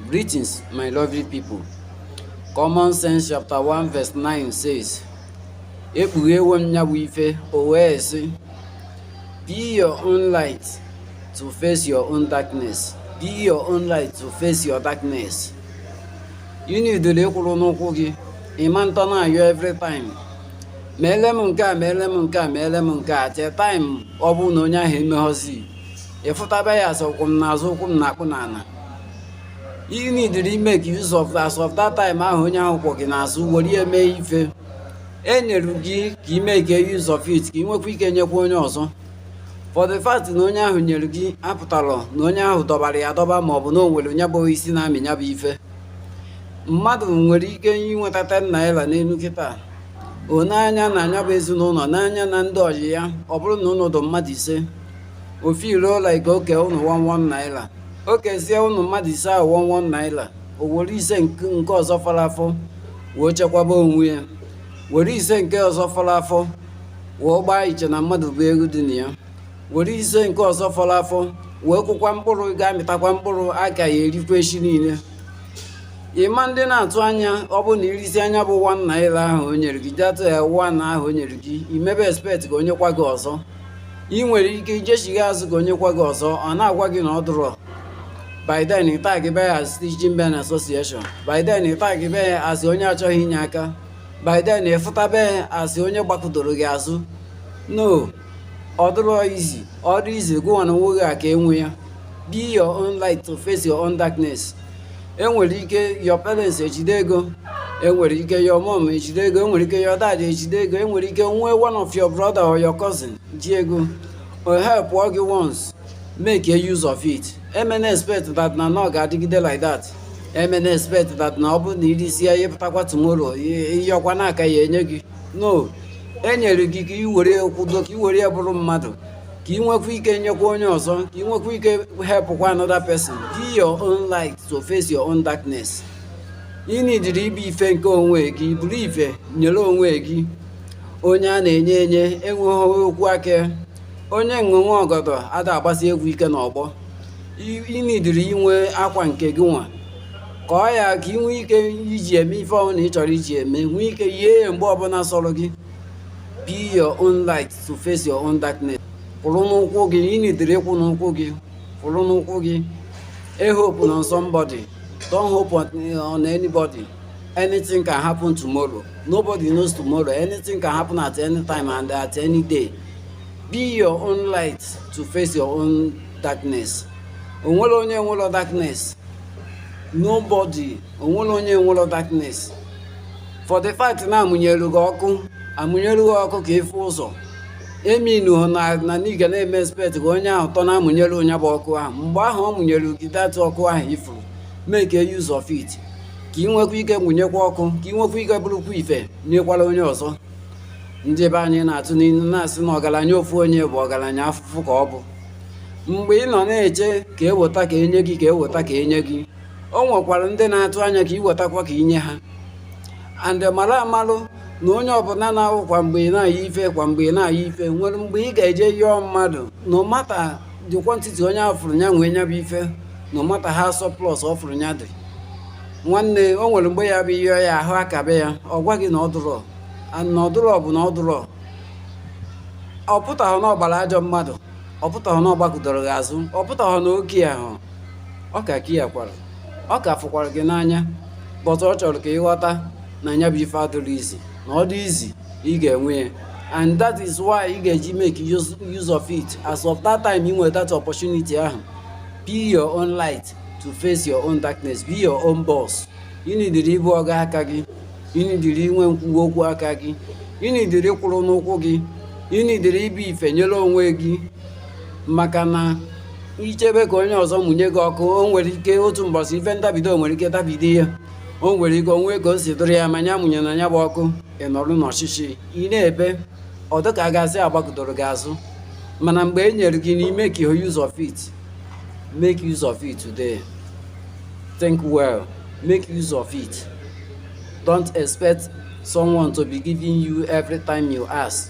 Greetings, my lovely people. Common Sense chapter 1 verse 9 says, Ekpughewo m nya bụ ife, o wee sị, Be your own light to face your own darkness. Be your own light to face your darkness. Ị nidiri ịkwụrụ n'ụkwụ gị, ị ma nọdụ na-ayọ every time. Meele m nke a, meele m nke a, meele m nke a, tee time ọ bụrụ na onye ahụ emeghọzi. ị fụtaba ya as ọ kwọ m n'azụ ụkwụ m na-akpụ n'ala you need to make use of as of that time ahụ onye ahụ kwọ gị n'azụ were ya mee ife e nyere gị ka ị make use of it ka ị nwekwa ike nyekwa onye ọzọ for the fact na onye ahụ nyere gị apụtarọ na onye ahụ dọbara ya dọba ma ọ bụ na o nwere nya bụ osisi na-amị nya bụ ife mmadụ nwere ike inweta 10 naira n'elu kịta ọ na nya na nya bụ ezinụlọ na nya na ndị ọyị ya ọ bụrụ na ụnụ dụ mmadụ ise o feel like o kee ụnụ 1 1 naira o kezie ụnụ mmadụ ise ahụ 1 1 naira o were ise nke nke ọzọ fọrọ afọ wee chekwaba onwe ya were ise nke ọzọ fọrọ afọ wee gbaa iche na mmadụ bụ ego dị na ya were ise nke ọzọ fọrọ afọ wee kụkwa mkpụrụ ga-amịtakwa mkpụrụ a ka ya erikwa echi niile ị ma nọdụ na-atụ anya ọ bụ na i risia nya bụ 1 naira ahụ o nyere gị jatụ ya 1 naira ahụ o nyere gị i mebe expect ka o nyekwa gị ọzọ ị nwere ike ijechigha azụ ka o nyekwa gị ọzọ ọ na-agwa gị na ọ dụrọ by then ị tag be ya as stingy men association by then ị tag be ya as onye achọghị inye aka by then ị fụtabe ya as onye gbakụdoro gị azụ no ọ dụrọ easy ọ dụ easy gụnwa na onwe gị a ka enwe ya be your own light to face your own darkness enwere ike your parents ejide ego enwere ike your mom ejide ego enwere ike your dad ejide ego enwere ike nwee one of your brother or your cousin ji ego o help gị once makee use of it emena expect that na na ọ ga-adịgide like that emena expect that na ọ bụrụ na i risie ya ị pụtakwa tomorrow ịyọkwa na a ka ya enye gị no enyere gị ka i were kwụdo ka i were ya bụrụ mmadụ ka ị nwekwa ike nyekwa onye ọzọ ka ị nwekwa ike helpụkwa another person be your own light to face your own darkness ị nidiri ịbụ ife nke onwe gị bụrụ ife nyere onwe gị onye a na-enye enye enweghị okwu aka onye nṅụnwe ọgọdọ ada agbasi egwu ike n'ọgbọ ị nidiri inwe akwa nke gị nwa ka ọ ya ka ị nwee ike iji eme ife ọbụla ị chọrọ iji eme nwee ike yie ya mgbe ọbụla sọrọ gị be your own light to face your own darkness kwụrụ n'ụkwụ gị ị nidiri ịkwụ n'ụkwụ gị kwụrụ n'ụkwụ gị e hope on somebody don't hope on, on anybody anything can happen tomorrow nobody knows tomorrow anything can happen at any time and at any day be your own light to face your own darkness o nwerọ onye enwerọ darkness nobody o nwerọ onye enwerọ darkness for the fact na amụnyelu gị ọkụ amụnyelu gị ọkụ ka ị fụ ụzọ eminuhọ na na ị ga na-eme expect ka onye ahụ tọ na-amụnyelu nya bụ ọkụ ahụ mgbe ahụ ọ mụnyelu gị that ọkụ ahụ ifuru make use of it ka ị nwekwa ike mụnyekwa ọkụ ka ị nwekwa ike bụrụkwa ife nyekwara onye ọzọ ndị be anyị na-atụ n'ilu na-asị na ọgaranya ofu onye bụ ọgaranya afụfụ ka ọ bụ mgbe ị nọ na-eche ka e weta ka e nye gị ka e weta ka e nye gị o nwekwara ndị na-atụ anya ka i wetakwa ka i nye ha and mara amalụ na onye ọbụla na-awụ kwa mgbe ị na-ayọ ife kwa mgbe ị na-ayọ ife o nwere mgbe ị ga-eje yọọ mmadụ no matter the quantity onye ahụ fụrụ ya nwee nya bụ ife no matter how surplus ọ fụrụ ya dị nwanne o nwere mgbe ya-abụ ị yọọ ya ahụ akabe ya ọ gwa gị na ọ dụrọ and na ọ dụrọ bụ na ọ dụrọ ọ pụtahọ na ọ gbara ajọ mmadụ ọ pụtahọ na ọ gbakụdoro gị azụ ọ pụtahọ na ọ carehọ ọ ka carekwara ọ ka fụkwara gị n'anya but ọ chọrọ ka ị ghọta na ya bụ ife adịrọ easy na ọ dị easy ị ga-enwe ya and that is why ị ga-eji make use, use of it as of that time ị nwere that opportunity ahụ be your own light to face your own darkness be your own boss ị nidiri ịbụ ọga aka gị ị nidiri inwe nkwuwa okwu aka gị ị nidiri kwụrụ n'ụkwụ gị ị nidiri ịbụ ife nyere onwe gị maka na i chebe ka onye ọzọ mụnye gị ọkụ o nwere ike otu mbọsị ife ndabido nwere ike dabido ya o nwere ike o nwee ka o si dụrụ ya ma ya amụnyena ya bụ ọkụ ị nọrụ n'ọchịchịị na-ebe ọ dịka a ga-asị a gbakụdoro gị azụ mana mgbe e nyere gị make use of it make use of it today think well make use of it don't expect someone to be giving you every time you ask